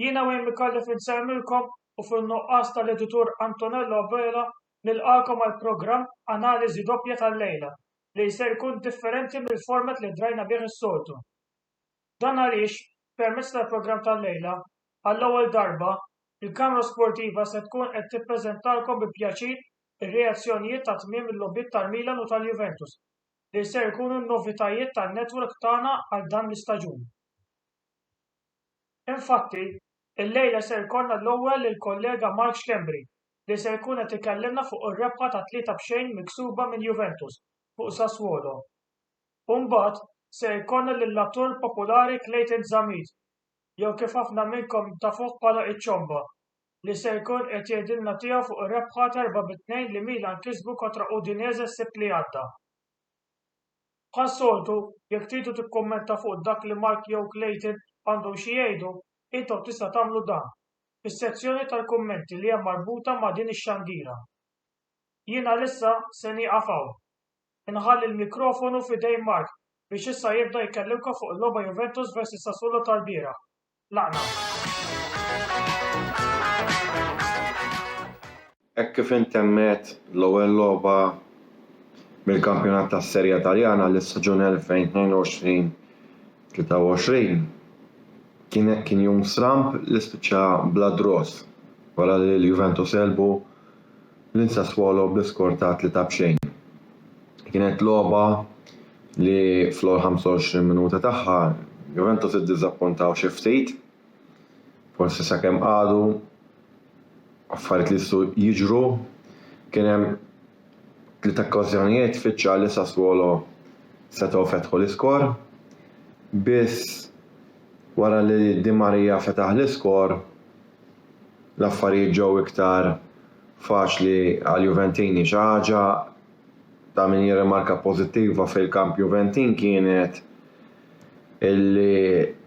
Jiena u jemmi kalli finsemmilkom u fin-nuqqas tal-editur Antonello Abela nilqakom għall-programm Analiżi Doppja tal-lejla li ser jkun differenti mill-format li drajna bih is-soltu. Dan għaliex, permezz tal-programm tal-lejla, għall-ewwel darba, il-Kamra Sportiva se tkun qed tippreżentalkom bi pjaċir ir-reazzjonijiet ta' tmiem il-logħbiet tal-Milan u tal-Juventus, li ser ikunu n-novitajiet tan-network tagħna għal dan l-istaġun. Infatti, illejla ser ikollna l-ewwel lill-kollega Mark Schembri, li se jkun qed ikellimna fuq ir-rebħa ta' tlieta b'xejn miksuba minn Juventus fuq Sassuolo. U mbagħad se jkollna lill-attur populari Clayton Zammit, jew kif ħafna minnkom tafuh bħala iċ-Ċomba, li se jkun qed jgħidilna tiegħu fuq ir-rebħa ta' erba' bi tnejn li Milan kisbu kontra Udinese s-Sibt li għadda. Bħas-soltu, jekk tridu tikkummenta fuq dak li Mark jew Clayton għandhom xi jgħidu, intom tista' tagħmlu dan, fis-sezzjoni tal-kummenti li hemm marbuta ma' din ix-xandira. Jien għalissa se nieqaf hawn. Inħalli l-mikrofonu f'idejn Mark biex issa jibda jkellimkom fuq il-logħba Juventus vs Sassuolo tal-bieraħ. Laqna. Hekk kif intemmet l-ewwel logħba mill-kampjonat tas-Serie A Taljana għal is-staġun 2022-23, kien kien jum stramb li spiċċa bla draws wara li l-Juventus għelbu lil Sassuolo bl-iskor ta' tlieta b'xejn. Kienet logħba li fl-ewwel 25 minuta tagħha Juventus iddiżappuntaw xi ftit, forsi sakemm qagħdu affarijiet li jistgħu jiġru, kien hemm tliet okkażjonijiet fiċ-ċar li Sassuolo setgħu fetħu l-iskor, biss wara li Di Maria fetaħ l-iskor, l-affarijiet ġew iktar faċli għall-Juventini. Xi ħaġa ta' min jirrimarka pożittiva fil-kamp Juventin kienet illi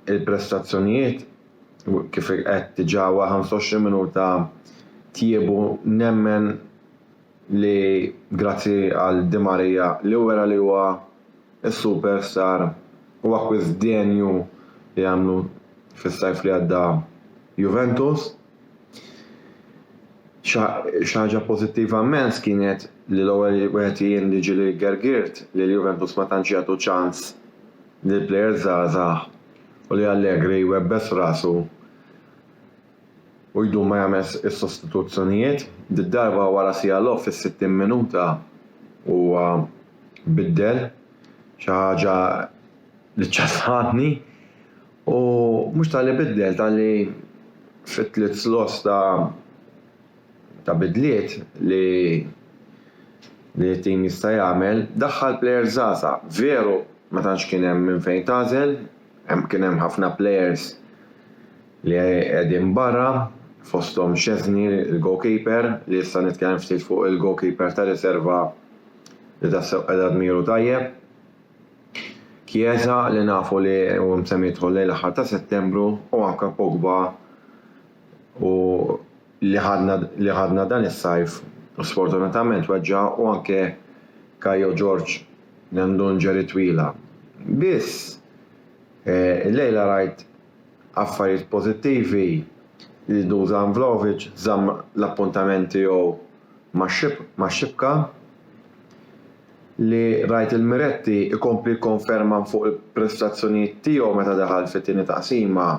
l-prestazzjonijiet kif għedt diġà wara 25 minuta tjiebu nemmen li grazzi għal Di Maria li wera li huwa s-super star u akkwist denju li għamlu fis-sajf li għadda Juventus. Xi ħaġa pożittiva mmens kienet li l-ewwel wieħed jien li ġieli gergirt li l-Juventus ma tantx jagħtu ċans lil players żgħażagħ u li Allegri jwebbes rasu u jdum ma jagħmel is-sostituzzjonijiet, did-darba wara siegħa logħob fis-60 minuta huwa biddel, xi ħaġa li ċċassatni u mhux talli biddel talli fit-tliet slots ta' ta' bidliet li li t-tim jista' jagħmel daħħal plejers żgħażagħ. Veru ma tantx kien hemm minn fejn tagħżel, Hemm kien hemm ħafna players li qegħdin barra fosthom Szczesny il-goalkeeper li issa nitkellem ftit fuq il-goalkeeper ta' riserva li tassew qiegħda dmiru tajjeb. Chiesa li nafu li hu msemmi jidħol lejn l-aħħar ta' Settembru u anke Pogba u li ħadna li ħadna dan is-sajf u sfortunatament weġġa' u anke Kajo George Nandun ġeri twila. Biss, illejla rajt affarijiet pożittivi li Dusan Vlahovic żamm l-appuntament tiegħu max-xibka, li rajt lil Miretti jkompli jikkonferma fuq il-prestazzjonijiet tiegħu meta daħal fit-tieni taqsima.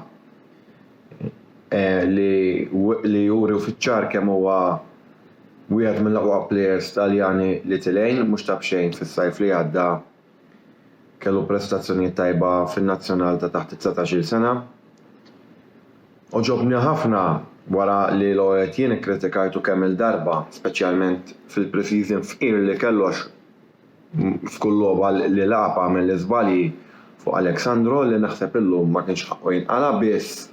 li juri fiċ-ċar kemm huwa wieħed mill-aqwa plejers Taljani li tilgħin, mhux ta' b'xejn fis-sajf li għadda kellu prestazzjonijiet tajba fin-nazzjonal ta' taħt it-dsatax-il sena. Għoġobni ħafna wara li Loew qed jien ikkritikajtu kemm-il darba, speċjalment fil-pre-season fqir li kellu għax F'kull logħba li lagħab għamel l-iżbalji fuq Alexandro li naħseb illum ma kienx ħaqqu jinqala' biss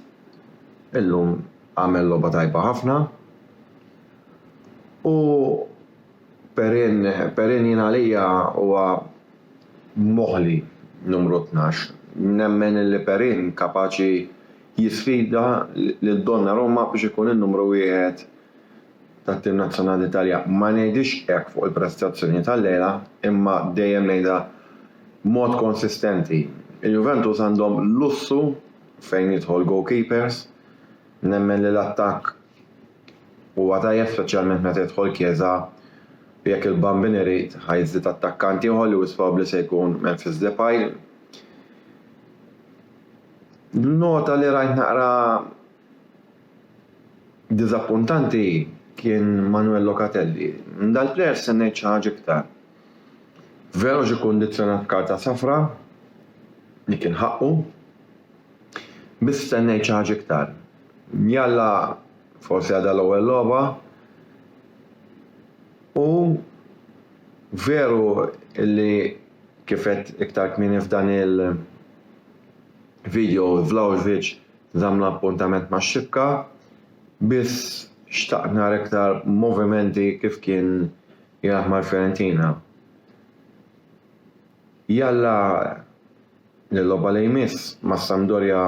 illum għamel logħba tajba ħafna. U Perin, Perin jien għalija huwa moħli numru tnax. Nemmen li Perin kapaċi jisfida lil Donnarumma biex ikun in-numru wieħed. tat-tim nazzjonali tal-Italja. Ma ngħidhiex hekk fuq il-prestazzjoni tal-lejla, imma dejjem ngħidha b'mod konsistenti. Il-Juventus għandhom lussu fejn jidħol goalkeepers, nemmen li l-attakk huwa tajjeb speċjalment meta jidħol Chiesa u jekk il-Bambin irid ħa jżid attakkant ieħor li wisq probabbli se jkun Memphis Depay. Nota li rajt naqra Diżappuntanti kien Manuel Locatelli. Minn dal-plejer stennejt xi ħaġa iktar. Veru ġie kundizzjonat b'karta safra, li kien ħaqqu, biss stennejt xi ħaġa iktar. Jalla forsi għadha l-ewwel logħba u veru li kif għedt iktar kmieni f'dan il-video Vlahovic Żamm l-appuntament max-xibka, biss xtaqt nara iktar movimenti kif kien jilgħab mal-Fiorentina. Jalla li l-logħba li jmiss mas-Sampdoria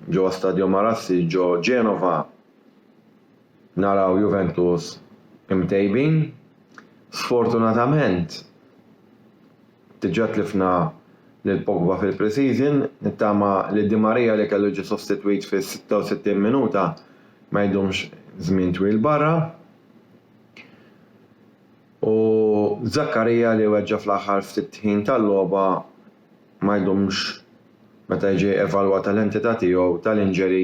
ġewwa Stadio Marassi ġo Genova naraw Juventus imtejbin. Sfortunatament diġà tlifna lil Pogba fil-pre-season, nittama li Di Maria li kellu jiġi sostitwit fis-66 minuta ma jdumx żmien twil barra u Zakaria li weġġa' fl-aħħar ftit ħin tal-logħba ma jdumx meta jiġi evalwata l-entità tiegħu tal-injury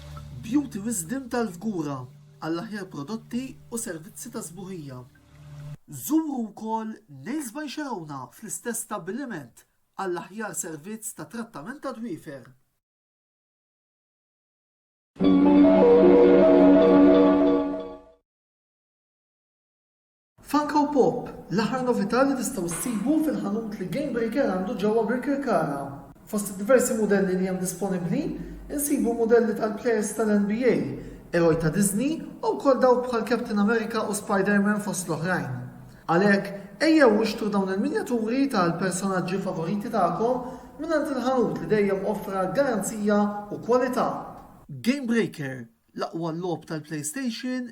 Beauty Wisdom tal-Fgura għall-aħjar prodotti u servizzi ta' sbuħija. Żuru wkoll Nails by Xerowna fl-istess stabbiliment għall-aħjar servizz ta' trattament tad-dwiefer. Funko Pop, l-aħħar novità li tistgħu ssibu fil-ħanut li Game Breaker għandu ġewwa Birkirkara. Fost id-diversi mudelli li hemm disponibbli, insibu mudelli tal-plejers tal-NBA, eroj ta' Disney u wkoll dawk bħal Captain America u Spider-Man fost l-oħrajn. Għalhekk, ejjew ixtru dawn il-minjaturi tal-personaġġi favoriti tagħkom mingħand il-ħanut li dejjem offra garanzija u kwalità. Game Breaker, l-aqwa logħob tal-PlayStation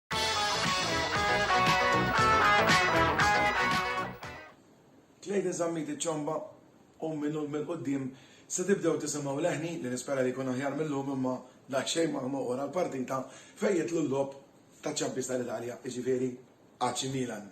Tlejt iż-żammiti ċomba u minn hu l-mil quddiem se tibdew tisimgħu leħni li nispera li jkun aħjar mil-lum imma daqsxejn ma hu wara l-partita fejn jidħlu l-logħob taċ-Champions tal-Italja, jiġifieri AC Milan.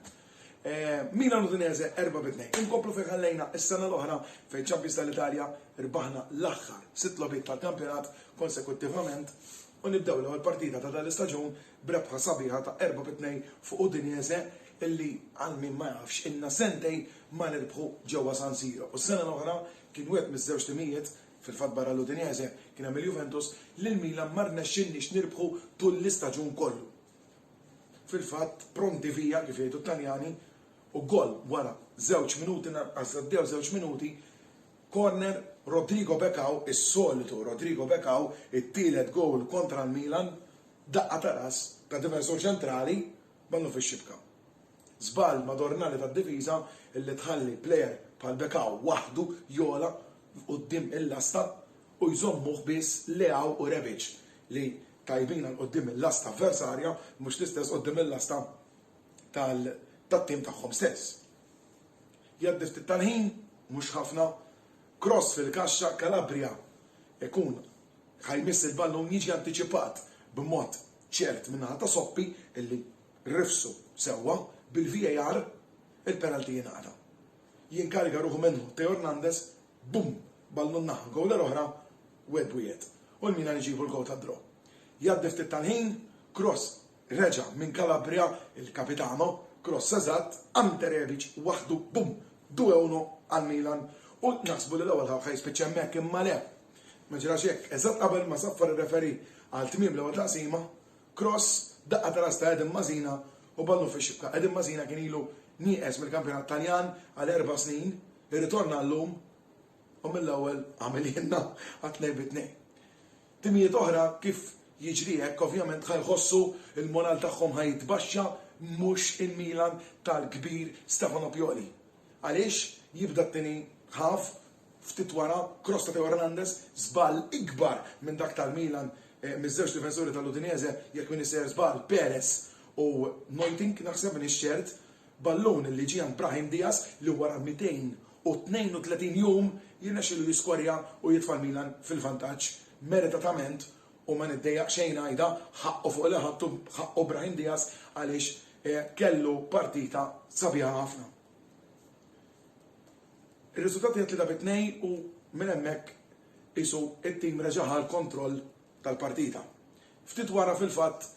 Milan Udinese 4 bi 2. Inkomplu fejn ħallejna s-sena l-oħra fejn Champions tal-Italja rbaħna l-aħħar sitt logħbiet tal-kampjonat konsekuttivament u nibdew l-ewwel partita ta' dan l-istaġun b'rebħa sabiħa ta' erba' bi tnejn fuq Udinese illi għal min ma jafx ilna sentejn ma nirbħu ġewwa San Siro u s-sena l-oħra kien wieħed miż-żewġ timijiet, fil-fatt barra l-Udinese kien hemm il-Juventus, li l-Milan ma rnexxilniex nirbħu tul l-istaġun kollu. Fil-fatt pronti via kif jgħidu t-Taljani u goal wara żewġ minuti lanqas għaddew żewġ minuti Corner, Rodrigo Becao, is-solitu Rodrigo Becao, it-tielet gowl kontra l-Milan, daqqa ta' ras ta' difensur ċentrali ballu fix-xibka. Żball madornali tad-difiża li tħalli plejer bħal Becao waħdu jogħla quddiem il-lasta u jżommuh biss Leao u Rebic li tajbin għal quddiem il-lasta avversarja mhux l-istess quddiem il-lasta tat-tim tagħhom stess. Jgħaddi ftit tal-ħin, mhux ħafna, kross fil-kaxxa, Calabria ikun ħa jmiss il-ballun, jiġi antiċipat b'mod ċert min-naħa ta' Soppi illi rifsu sewwa, bil-VAR il-penalty jingħata. Jinkariga ruħu minnu Theo Hernandez, bum! Ballun naħa l-gowla l-oħra u Edwiet u l-Milan iġibu l-gowl tad-draw. Jgħaddi ftit tal-ħin, kross Reġa' minn Calabria il-capitano, kross eżatt, Ante Rebic waħdu, bum! Due a uno għal Milan u naħsbu li l-ewwel ħarfa jispiċċa hemmhekk imma le! Ma ġrax hekk, eżatt qabel ma saffar ir-referee għal tmiem l-ewwel taqsima, kross, daqqa ta' ras ta' Edin Masina u ballun fix-xibka. Edin Masina kien ilu nieqes mill-kampjonat Taljan għal erba' snin, irritorna llum u mill-ewwel għamilhielna għat-tnejn bi tnejn. Timijiet oħra kif jiġri hekk ovvjament ħa jħossu l-moral tagħhom ħa jitbaxxa mhux il-Milan tal-kbir Stefano Pioli. Għaliex jibda t-tieni half ftit wara cross ta' Theo Hernandez, żball ikbar minn dak tal-Milan miż-żewġ difensuri tal-Udinese jekk m'iniex sejjer żball Perez u Neuting naħseb m'iniex ċert, Ballun li ġie għand Brahim Diaz li wara 232 jum jirnexxielu jiskwarja u jitfa' l-Milan fil-vantaġġ meritatament u ma niddejjaqx xejn ngħidha, ħaqqu fuq li ħadtu, ħaqqu Brahim Diaz għaliex kellu partita sabiħa ħafna. Ir-riżultat hija tlieta bi tnej u minn hemmhekk qisu t-tim reġa' ħa l-kontroll tal-partita. Ftit wara fil-fatt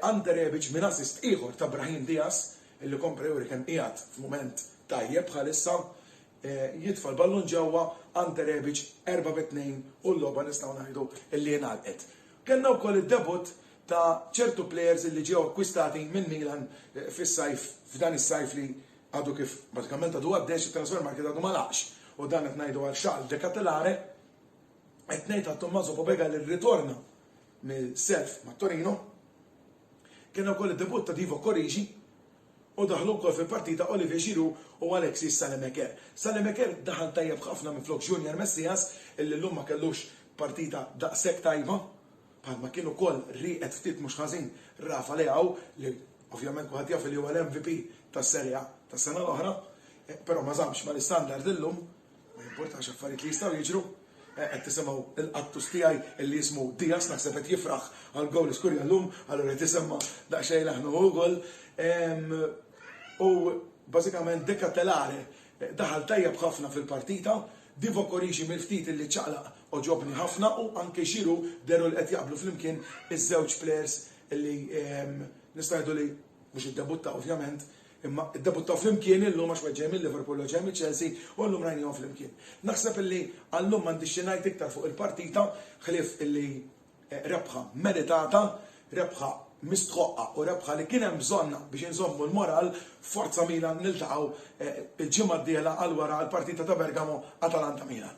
Ante Rebic minn assist ieħor ta' Brahim Diaz, li kompla juri kemm qiegħed f'mument tajjeb bħalissa, jitfa' l-ballun ġewwa Ante Rebic erba' bi tnejn u l-logħba nistgħu ngħidu li ingħalqet. Kellna wkoll id-debutt ta' ċertu plejers li ġew akkwistati minn Milan fis-sajf f'dan is-sajf li għadu kif bażikament għadu għaddej għax it-transfer market għadu ma laqgħx u dan qed ngħidu għal Charles De Ketelaere, Qed ngħid għal Tommaso Pobega li rritorna mill-self ma' Torino. Kien ukoll id-debutt ta' Divo Corrigi u daħlu wkoll fil-partita Olivier Giroud u Alexis Salemeker. Salemeker daħal tajjeb ħafna minflok Junior Messias illi llum ma kellux partita daqshekk tajba bħalma kien ukoll rieqed ftit mhux ħażin Rafa Leao li ovvjament kulħadd jaf li huwa l-MVP tas-Serie A tas-sena l-oħra, eh, però ma żammx mal-istandard illum. Ma jimpurtax affarijiet li jistgħu jiġru. Qed tisimgħu l-qattus tiegħi illi jismu Diaz naħseb qed jifraħ għall-gowl li skurja llum, allura qed isemma' daqsxejn leħnu hu wkoll. U bażikament De Ketelaere daħal tajjeb ħafna fil-partita, Divock Origi mill-ftit illi ċaqlaq għoġobni ħafna u anke Giroud deru li qed jaqblu flimkien iż-żewġ plejers illi nistgħu ngħidu li mhux iddebuttaw ovvjament, Imma ddebuttaw flimkien illum għax wieħed ġej mil-Liverpool u ġej miċ-Chelsea u llum rajnihom flimkien. Naħseb illi għal-lum m'għandix xi ngħid iktar fuq il-partita ħlief illi rebħa meritata, rebħa mistħoqqa u rebħa li kien hemm bżonnha biex inżommu l-moral, forza Milan niltaqgħu il-ġimgħa d-dieħla għal wara għall-partita ta' Bergamo Atalanta Milan.